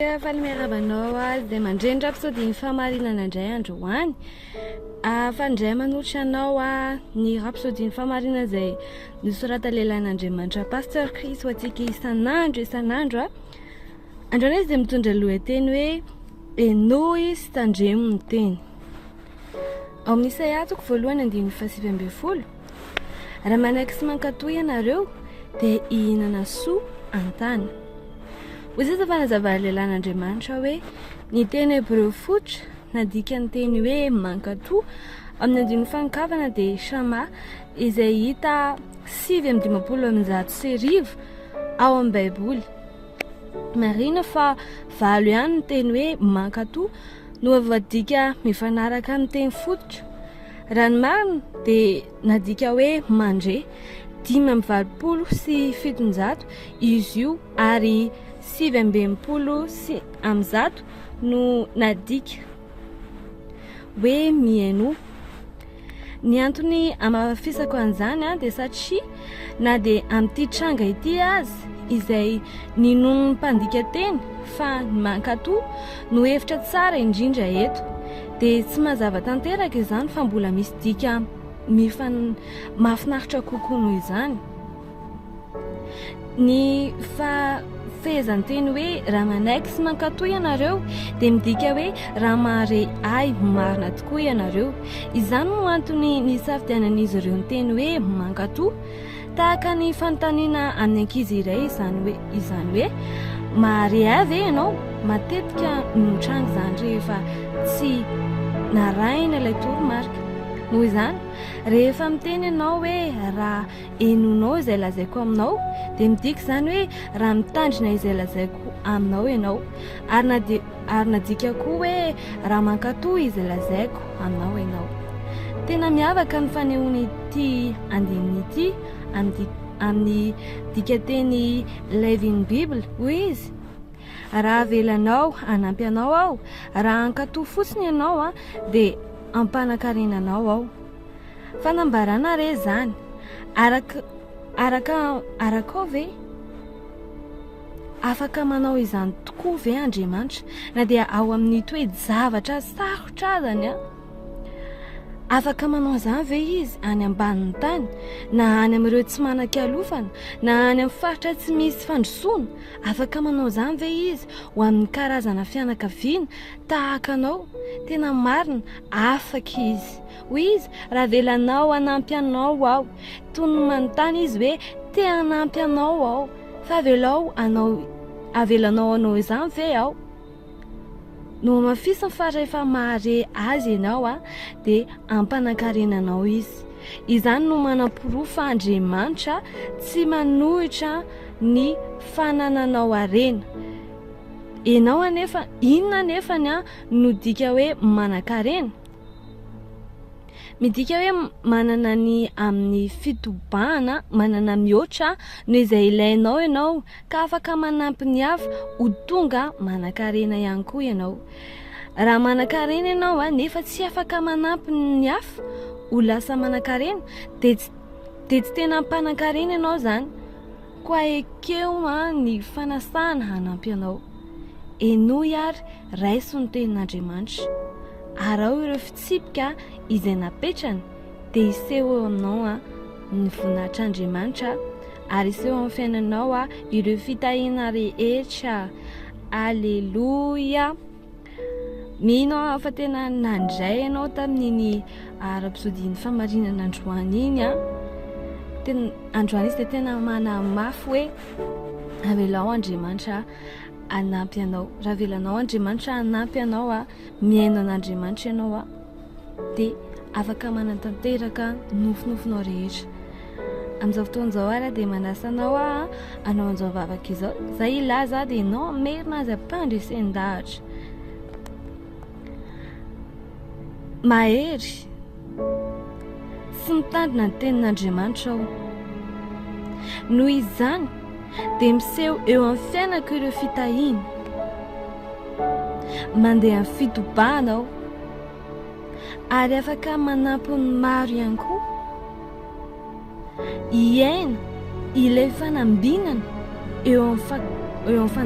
Dia faly miarahaba anao aho dia mandreny raha mpisodin'ny fahamarinana indray androany. Ahafaly indray manolotra anao aho ny raha mpisodin'ny fahamarinana izay nosorata lehilahin'Andriamanitra Pasteur Chris ho antsika isan'andro isan'andro. Androany izy dia mitondra lohateny hoe henoy sy tandremo ny teny. Ao amin'ny Isaia toko voalohany andininy fahasivy ambin'ny folo. Raha manaiky sy mankatò ianareo, dia hihinana soa an-tany. Hoy sisa fanazavan'ny lehilahin'Andriamanitra hoe, Ny teny hebreo fototra nadikan'ny teny hoe mankatò amin'ny andininy fankavana dia shama, izay hita sivy amby dimampolo amby zato sy arivo ao amin'ny Baiboly. Marihina fa valo ihany ny teny hoe mankatò no voadika mifanaraka amin'ny teny fototra. Raha ny marina dia nadika hoe mandre dimy amby valopolo sy fitonjato izy io ary sivy amby enimpolo sy amin'ny zato no nadika hoe mihainoa. Ny antony hamafisako an'izany dia satria na dia amin'ity tranga ity aza izay ninoan'ny mpandika teny fa ny mankato no hevitra tsara indrindra eto dia tsy mazava tanteraka izany fa mbola misy dika mifan mafinaritra kokoa noho izany Ny fa fehezanteny hoe raha manaiky sy mankatò ianareo dia midika hoe raha mahare ahy ho marina tokoa ianareo. Izany no antony nisafidianan'izy ireo ny teny hoe mankatò. Tahaka ny fanontaniana amin'ny ankizy iray izany hoe izany hoe mahare ahy ve ianao? Matetika no mitranga izany rehefa tsy narahina ilay toromarika. Noho izany, rehefa miteny ianao hoe raha henonao izay lazaiko aminao dia midika izany hoe raha mitandrina izay lazaiko aminao ianao ary na dia ary nadika koa hoe raha mankatò izay lazaiko aminao ianao tena miavaka ny fanehoana ity andininy ity amin'ny amin'ny dikateny Living Bible hoy izy raha avelanao hanampy anao aho raha hankatò fotsiny ianao dia hampanan-karena anao aho Fanambarana re izany. Araka araka araka ao ve? Afaka manao izany tokoa ve Andriamanitra na dia ao amin'ny toe-javatra sarotra azany an? Afaka manao izany ve izy any ambanin'ny tany na any amin'ireo tsy manan-kialofana na any amin'ny faritra tsy misy fandrosoana? Afaka manao izany ve izy ho amin'ny karazana fianakaviana tahaka anao? Tena marina, afaka izy. Hoy izy, Raha avelanao hanampy anao aho. Toy ny manontany izy hoe, Te hanampy anao aho, fa avelao hanao, avelanao hanao izany ve aho? Nohamafisiny fa rehefa mahare Azy ianao, dia hampanankarena anao Izy. Izany no manaporofo fa Andriamanitra tsy manohitra ny fanananao harena. Ianao anefa, inona anefa ny no dika hoe manankarena? Midika hoe manana ny amin'ny fitobahana, manana mihoatra noho izay ilainao ianao, ka afaka manampy ny hafa ho tonga manan-karena ihany koa ianao. Raha manan-karena ianao nefa tsy afaka manampy ny hafa ho lasa manan-karena dia tsy dia tsy tena mpanan-karena ianao izany, koa ekeo ny fanasana hanampy anao. Henoy ary. Raiso ny tenin'Andriamanitra. Araho ireo fitsipika izay napetrany dia hiseho eo aminao ny voninahitr'Andriamanitra ary hiseho amin'ny fiainanao ireo fitahiana rehetra. Aleloia! Mino aho fa tena nandray ianao tamin'iny ara-pisodian'ny famarinana androany iny. Tena androany izy dia tena manamafy hoe avelao Andriamanitra hanampy anao. Raha avelanao Andriamanitra hanampy anao a, mihaino an'Andriamanitra ianao a, dia afaka manatanteraka nofinofinao rehetra. Amin'izao fotoana izao ara dia manasa anao a, anao an'izao vavaka izao, izay hilaza dia ianao hamerina azy ampandresen-dahatra. Mahery. sy mitandrina ny tenin'Andriamanitra aho. Noho izany dia miseho eo amin'ny fiainako ireo fitahiana. Mandeha amin'ny fitobahana aho ary afaka manampy ny maro ihany koa. Hiaina ilay fanambinana eo amin'ny eo amin'ny